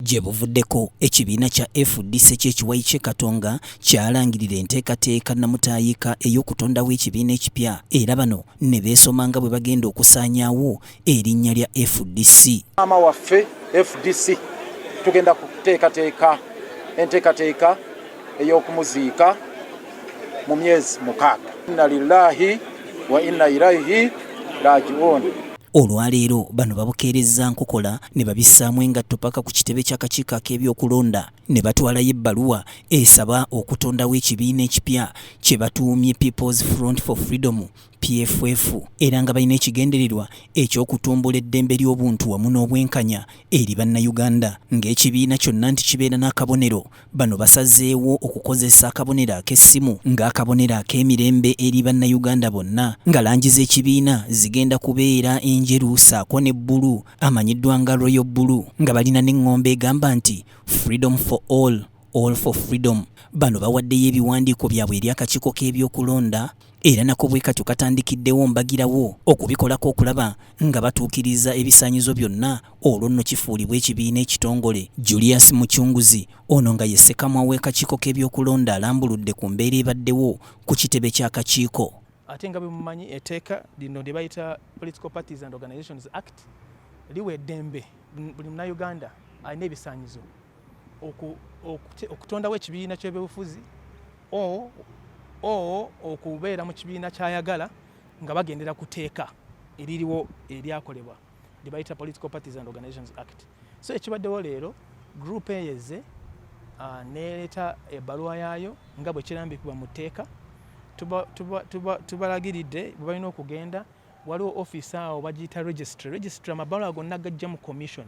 Gye buvuddeko ekibiina kya fdc ky'ekiwayi ky'e Katonga kyalangirira enteekateeka nnamutaayiika ey'okutondawo ekibiina ekipya era bano ne beesoma nga bwe bagenda okusaanyaawo erinnya lya fdc. Maama waffe fdc tugenda kuteekateeka enteekateeka ey'okumuziika mu myezi mukaaga inna lillahi wa inna ilaihi rajiun Olwaleero bano babukeerezza nkokola ne babissaamu engatto paka ku kitebe ky'akakiiko ak'ebyokulonda ne batwalayo ebbaluwa esaba okutondawo ekibiina ekipya kye batuumye People's Front for Freedom PFF era nga balina ekigendererwa eky'okutumbula eddembe ly'obuntu wamu n'obwenkanya eri Bannayuganda ng'ekibiina kyonna nti kibeera n'akabonero. Bano basazeewo okukozesa akabonero ak'essimu ng'akabonero ak'emirembe eri Bannayuganda bonna nga langi z'ekibiina zigenda kubeera enjeru ssaako ne bbulu amanyiddwa nga Royal Bulu nga balina n'eng'ombo egamba nti Freedom for All. All for Freedom bano bawaddeyo ebiwandiiko byabwe eri akakiiko k'ebyokulonda era nako bwe katyo katandikiddewo mbagirawo okubikolako okulaba nga batuukiriza ebisaanyizo byonna olwo nno kifuulibwa ekibiina ekitongole julius mucunguzi ono nga ye ssekamwa w'ekakiiko k'ebyokulonda alambuludde ku mbeera ebaddewo ku kitebe ky'akakiiko ate nga bwemumanyi eteeka lino lye bayita political parties and organizations act liwa eddembe buli munauganda alina ebisaanyizo okutondawo ekibiina ky'ebyobufuzi o okubeera mu kibiina kyayagala nga bagendera ku teeka eririwo eryakolebwa lye bayita political parties and organizations act so ekibaddewo leero group eyo ezze ah, nereeta ebbaluwa yaayo nga bwe kirambikibwa mu tteeka tubalagiridde bwe balina okugenda waliwo office awo bagiyita registry registry amabaluwa gonna gajja mu commission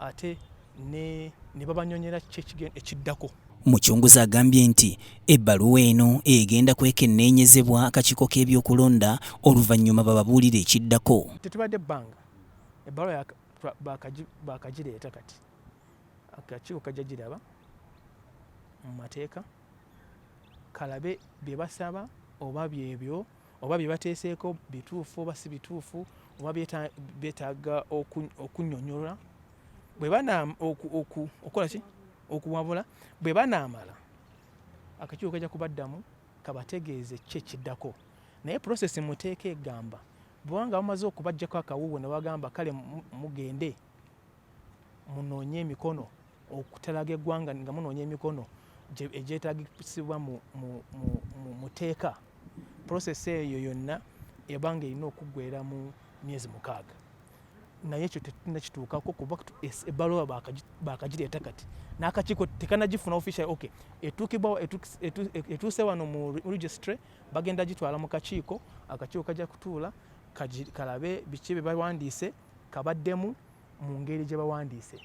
ate ne ne babanyonyera kiki ekiddako. Mucunguzi agambye nti ebbaluwa eno egenda kwekenneenyezebwa akakiiko k'ebyokulonda oluvannyuma bababuulire ekiddako. Tetubadde bbanga ebbaluwa baakagireeta kati akakiiko kajja giraba mu mateeka kalabe bye basaba oba byebyo oba bye bateeseeko bituufu oba si bituufu oba beetaaga okunyonyola okukola ki okuwabula bwe banaamala akakiiko kajja kubaddamu kabategeeze ki ekiddako naye prosesi muteeka egamba bwanga bamaze okubajjako akawuuwe ne bagamba kale mugende munoonye emikono okutalaga eggwanga nga munoonya emikono egyetagisibwa mu teeka prosesi eyo yonna ebanga erina okuggwera mu myezi mukaaga naye ekyo tetulina kituukako kuba ebbaluwa bakagireeta kati n'akakiiko tekanagifuna official ok etuukibwa etuuse wano mu registry bagenda gitwala mu kakiiko akakiiko kajja kutuula kalabe biki bye bawandiise kabaddemu mu ngeri gye bawandiise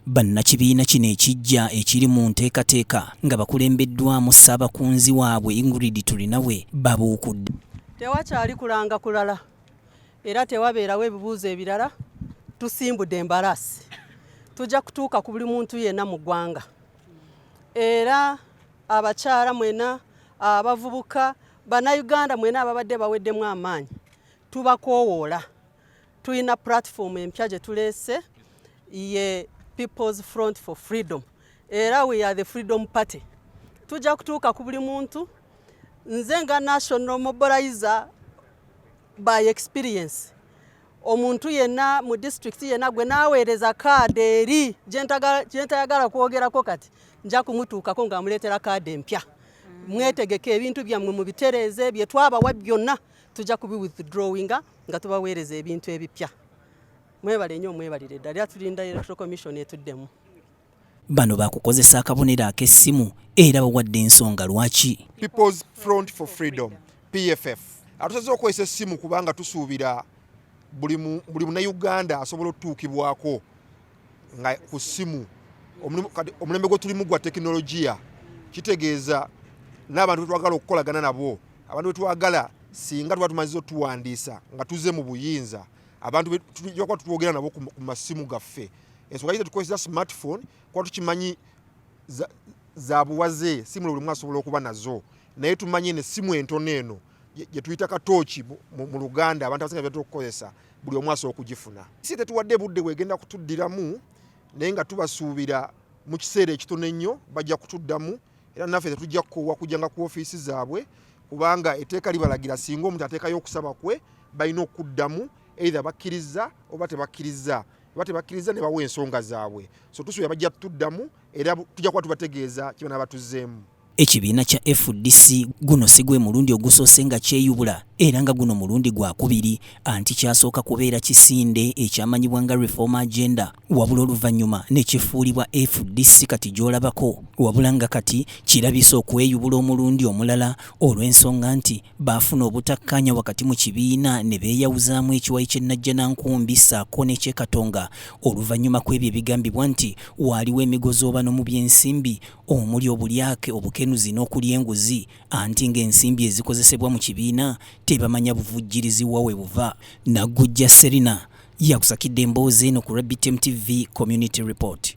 bannakibiina kino ekijja ekiri mu nteekateeka nga bakulembeddwamu ssaabakunzi waabwe ingrid tulinawe babuukudde tewakyali kulanga kulala era tewabeerawo ebibuuzo ebirala tusimbudde embalaasi tujja kutuuka ku buli muntu yenna mu ggwanga era abakyala mwena abavubuka bannayuganda mwena ababadde baweddemu amaanyi tubakoowoola Tulina platform empya gye tuleese ye People's Front for Freedom era we are the Freedom Party. Tujja kutuuka ku buli muntu. Nze nga national mobilizer by experience omuntu yenna mu disitulikiti yenna gwe naaweereza kaadi eri gyentayagala kwogerako kati nja kumutuukako ng'amuleetera kaadi empya. Mm. Mwetegeke ebintu byammwe mubitereeze bye twabawa byonna. tujja kubi withdrawinga nga tubaweereza ebintu ebipya mwebale nnyo mwebalire ddala era tulinda electoral commission etuddemu bano bakukozesa akabonero ak'essimu era bawadde ensonga lwaki peoples front for freedom pff atusaze okukozesa essimu kubanga tusuubira buli munauganda asobola otutuukibwako nga ku ssimu omulembe gwe tulimu gwa tekinologiya kitegeeza n'abantu betwagala okukolagana nabo abantu betwagala singa tuba tumaziza otuwandiisa nga tuze mu buyinza abantu tujakuba tutwogera nabo ku masimu gaffe ensonga yite tukozesa smartphone kuba tukimanyi zabuwaze simu lwe lumu asobola okuba nazo naye tumanye nesimu entono eno gye tuyita katooki mu luganda abantu abasinga byatera okukozesa buli omu asobola okugifuna si tetuwadde budde bwegenda kutuddiramu naye nga tubasuubira mu kiseera ekitono ennyo bajja kutuddamu era naffe tetujja kukoowa kujjanga ku ofiisi zaabwe kubanga etteeka libalagira singa omuntu ateekayo okusaba kwe balina okuddamu eitha bakkirizza oba tebakkirizza oba tebakkirizza ne bawa ensonga zaabwe so tusuubira bajja tuddamu era tujja kuba tubategeeza kibanaaba tuzzeemu Ekibiina kya fdc guno si gwe mulundi ogusoose nga kyeyubula era nga guno mulundi gwa kubiri anti kyasooka kubeera kisinde ekyamanyibwa nga Reform Agenda wabula oluvannyuma ne kifuulibwa fdc kati gy'olabako wabula nga kati kirabise okweyubula omulundi omulala olw'ensonga nti baafuna obutakkaanya wakati mu kibiina ne beeyawuzaamu ekiwayi ky'e Najjanankumbi ssaako n'eky'e Katonga oluvannyuma kw'ebyo ebigambibwa nti waaliwo emigozoobano mu by'ensimbi omuli obulyake, obukenuzi n'okulya enguzi anti ng'ensimbi ezikozesebwa mu kibiina tebamanya buvujjirizi wa we buva. Naggujja Serina yakusakidde emboozi eno ku RBTM TV Community Report.